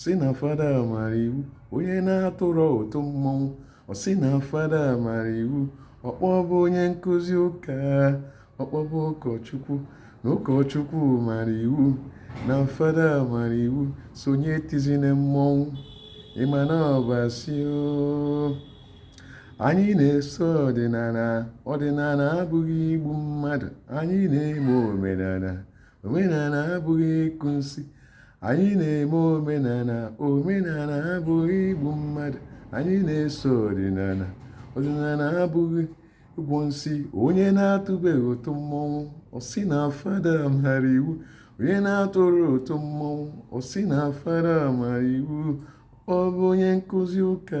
sị na fada mara iwu onye na-atụrọ ụtụ mmọnwụ ọ sị na fada mara iwu ọkpọbụ onye nkụzi ụka ọkpọbụ ụkọchukwu na ụkọchukwu mara iwu na fada mara iwu sonye tizina mmọnwụ ịma na ọbasi anyị na-eso ọdịnala ọdịnala abụghị igbu mmadụ anyị na-eme omenala omenala abụghị ịkụ nsi anyị na-eme omenala omenala abụghị igbu mmadụ anyị na-eso ọdịnala ọdịnala abụghị ịgwọ nsi onye na-atụbeghị ụtụ mmọnwụ ọ sị na fada mara iwu onye na-atụrọ ụtụ mmọnwụ ọ sị na fada mara iwu ọ bụ onye nkụzi ụka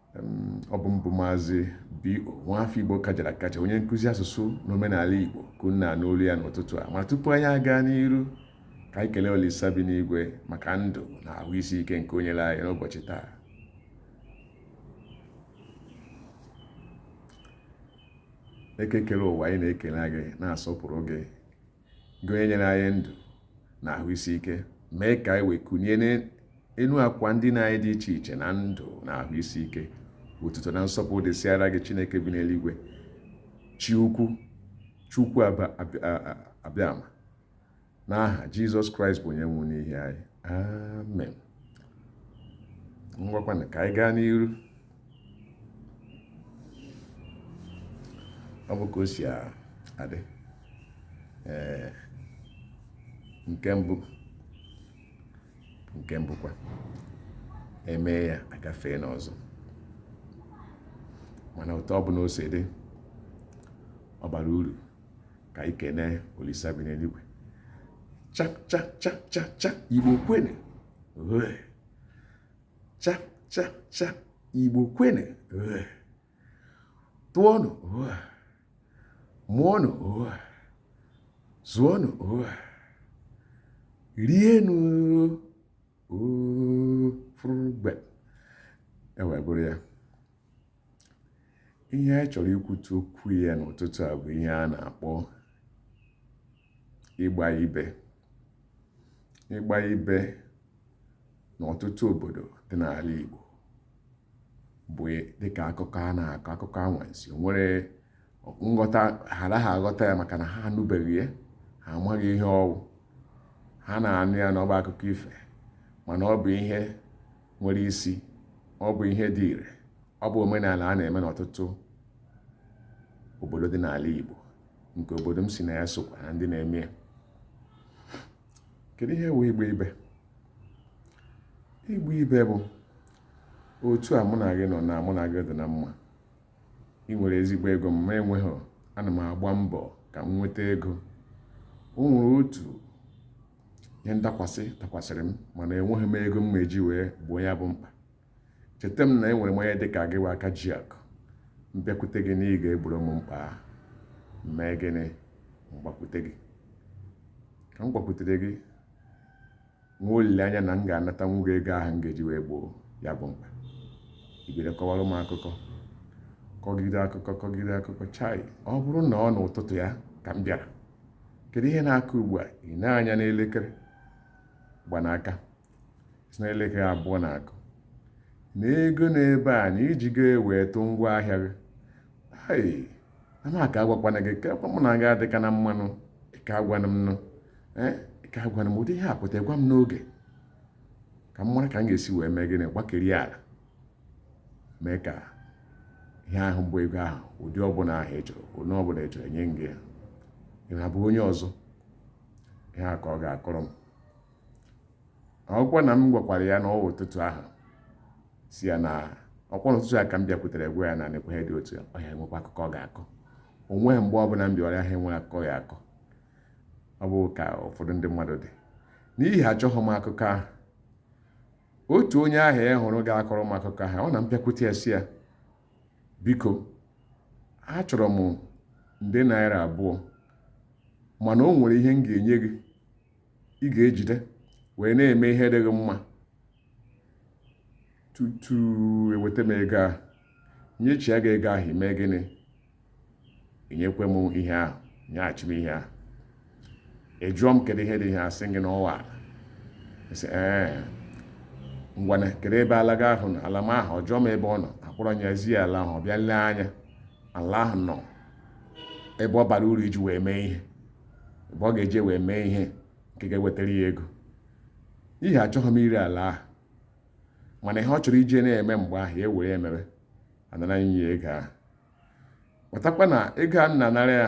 ọ bụ m bụ maazị B.O. nwafọ Igbo kajara akaja onye nkụzi asụsụ na omenala Igbo ka unu na-anụ olu ya n'ụtụtụ a ma tupu anyị aga n'iru ka anyị kelee Olisa bi n'igwe maka ndụ na ahụ isi ike nke o nyere anyị n'ụbọchị taa eke kere ụwa anyị na-ekele gị na-asọpụrụ gị gị onye nyere anyị ndụ na ahụ isi ike mee ka anyị wee kunie n'elu akwa ndina anyị dị iche iche na ndụ na ahụ isi ike otuto na nsọpụrụ dịsịara gị chineke bi n'eluigwe chi ukwu chukwu abịama n'aha jizọs kraịst bụ onye nwụrụ n'ihi anyị amen ngwakwanụ ka anyị gaa n'iru ọ bụ ka o si adị ee nke mbụ nke mbụkwa e mee ya agafee n'ọzọ mana otu ọ bụna o si dị ọ bara uru ka anyị kene olisa bi n'eluigwe cha cha cha cha cha igbo kwenu cha cha cha igbo kwenu tụọnụ mụọnụ zụọnụ rienụ fụrụ mgbe e wee bụrụ ya ihe anyị chọrọ ikwutu okwu ya n'ụtụtụ a bụ ihe a na-akpọ ịgba ibe ịgba ibe n'ọtụtụ obodo dị n'ala Igbo bụ dịka akụkọ a na-akọ akụkọ anwansi nwere nghọta ha anaghị aghọta ya maka na ha anụbeghị ya ha amaghị ihe ọ wụ ha na-anụ ya na ọ bụ akụkọ ife mana ọ bụ ihe nwere isi ọ bụ ihe dị ire ọ bụ omenala a na-eme n'ọtụtụ obodo dị n'ala Igbo nke obodo m si na ya sokwa na ndị na-eme ya kedu ihe wụ ịgba ibe ịgba ibe bụ otu a mụ na gị nọ na mụ na gị dị na mma ị nwere ezigbo ego m ma enweghị ana m agba mbọ ka m nweta ego o nwere otu ihe ndakwasị dakwasịrị m mana enweghị m ego m eji wee gboo ya bụ mkpa echeta m na enwere m onye dị ka gị aka ji akụ m bịakwute gị na ị ga-egboro m mkpa mee gịnị m gbakwute gị ka m gbakwutere gị nwee olileanya na m ga-anatanwu gị ego ahụ m ga-eji wee gboo ya bụ mkpa ibere kọwara m akụkọ kọgide akụkọ kọgide akụkọ chai ọ bụrụ na ọ n'ụtụtụ ya ka m bịara kedu ihe na-akụ ugbu a ị nee anya n'elekere gba n'aka sị na elekere abụọ na-akụ na ego n'ebe a na i jigo ya wee tụ ngwa ahịa gị ai amaka agwakwana gị ka mụ na gị adịka na mma nụ ị ka agwanụ m nụ eh, ka agwanụ m ụdị ihe a pụta gwa m n'oge ka m mara ka m ga-esi wee mee gịnị gbakiri ala mee ka ihe ahụ bụ ego ahụ ụdị ọbụla ahụ ị chọrọ onye ọbụla ị chọrọ nye gị ya ị na-abụ onye ọzọ ihe a ka ọ ga-akọrọ m ọkwa na m gwakwara ya na ọ wụ ụtụtụ ahụ sị ya na ọkwa ụtụtụ a ka m bịakwutere gwa ya na nekwa ihe dị otu a ọ ya-enwekwa akụkọ ọ ga-akọ o nweghị mgbe ọbụla m bịara ahịa enweghị akụkọ ọ ya-akọ ọ bụ ka ụfọdụ ndị mmadụ dị n'ihi achọghị m akụkọ ahụ otu onye ahụ ị hụrụ ga-akọrọ m akụkọ ahụ ọ na m bịakwute ya sị ya biko achọrọ m nde naira abụọ mana o nwere ihe m ga-enye gị ị ga-ejide wee na-eme ihe dị gị mma tutu eweta m ego ahụ nyechia gị ego ahụ i mee gịnị nyekwe m ihe ahụ nyeghachi m ihe ahụ ị jụọ m kedu ihe dị ihe asị gị na ọ wụ ala sị ee ngwanụ kedu ebe ala gị ahụ nọ ala m ahụ ọ jụọ m ebe ọ nọ akpọrọ m ya zi ya ala ahụ ọ bịa lee anya ala ahụ nọ ebe ọ bara uru iji wee mee ihe ebe ọ ga-eji wee mee ihe nke ga-ewetara ya ego n'ihi achọghị m ire ala ahụ mana ihe ọ chọrọ iji na-eme mgbe ahụ ya ewere mebe anara m ya ego ahụ matakwa na ego a m na-anara ya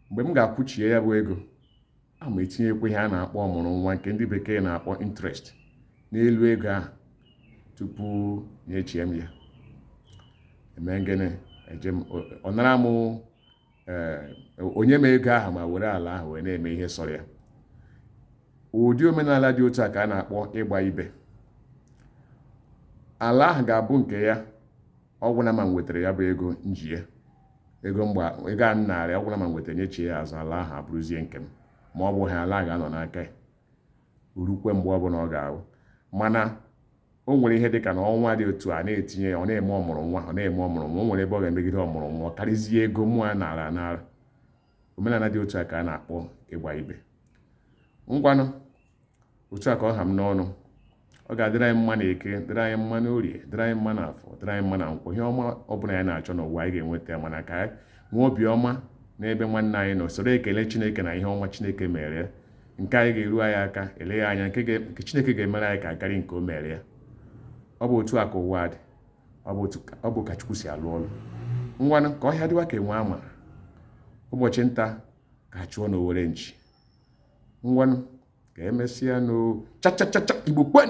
mgbe m ga-akwụchie ya bụ ego a ma etinyekwa ihe a na-akpọ ọmụrụ nwa nke ndị bekee na-akpọ interest n'elu ego ahụ tupu enyechie m ya eme gịnị eje m ọ nara m o nye m ego ahụ ma were ala ahụ wee na-eme ihe sọrọ ya ụdị omenala dị otu a ka a na-akpọ ịgba ibe ala ahụ ga-abụ nke ya ọ gwụna ma m wetara ya bụ ego m ji ya ego a m narị ọ gwụna ma m wetara nyechie ya azụ ala ahụ abụrụzie nke m ma ọ bụghị ala ga-anọ n'aka ya o rukwe mgbe ọbụla ọ ga-abụ mana o nwere ihe dịka na ọnwa dị otu a na-etinye ya ọ na-eme ọmụrụ nwa ọ na-eme ọmụrụ nwa o nwere ebe ọ ga-emegide ọmụrụ nwa ọ karịzie ego mụwa naara anara omenala dị otu a ka a na-akpọ ịgba ibe ngwanụ otu a ka ọ ha m n'ọnụ ọ ga-adịrị anyị mma na eke dịrị anyị mma na orie dịrị anyị mma na afọ dịrị anyị mma na nkwọ ihe ọma ọ bụla anyị na-achọ n'ụwa anyị ga-enweta ya mana ka anyị nwee obiọma n'ebe nwanne anyị nọ soro ekele chineke na ihe ọma chineke mere ya nke anyị ga-eru anyị aka eleghị anya nke chineke ga-emere anyị ga-akarị nke o mere ya ọ bụ otu a ka ụwa dị ọ bụ ka chukwu si alụ ọlụ ngwanụ ka ọhịa dịwa ka enwe ama ụbọchị nta ka a chụọ na owere nchi ngwanụ ka emesịa no cha cha cha cha igbo kwen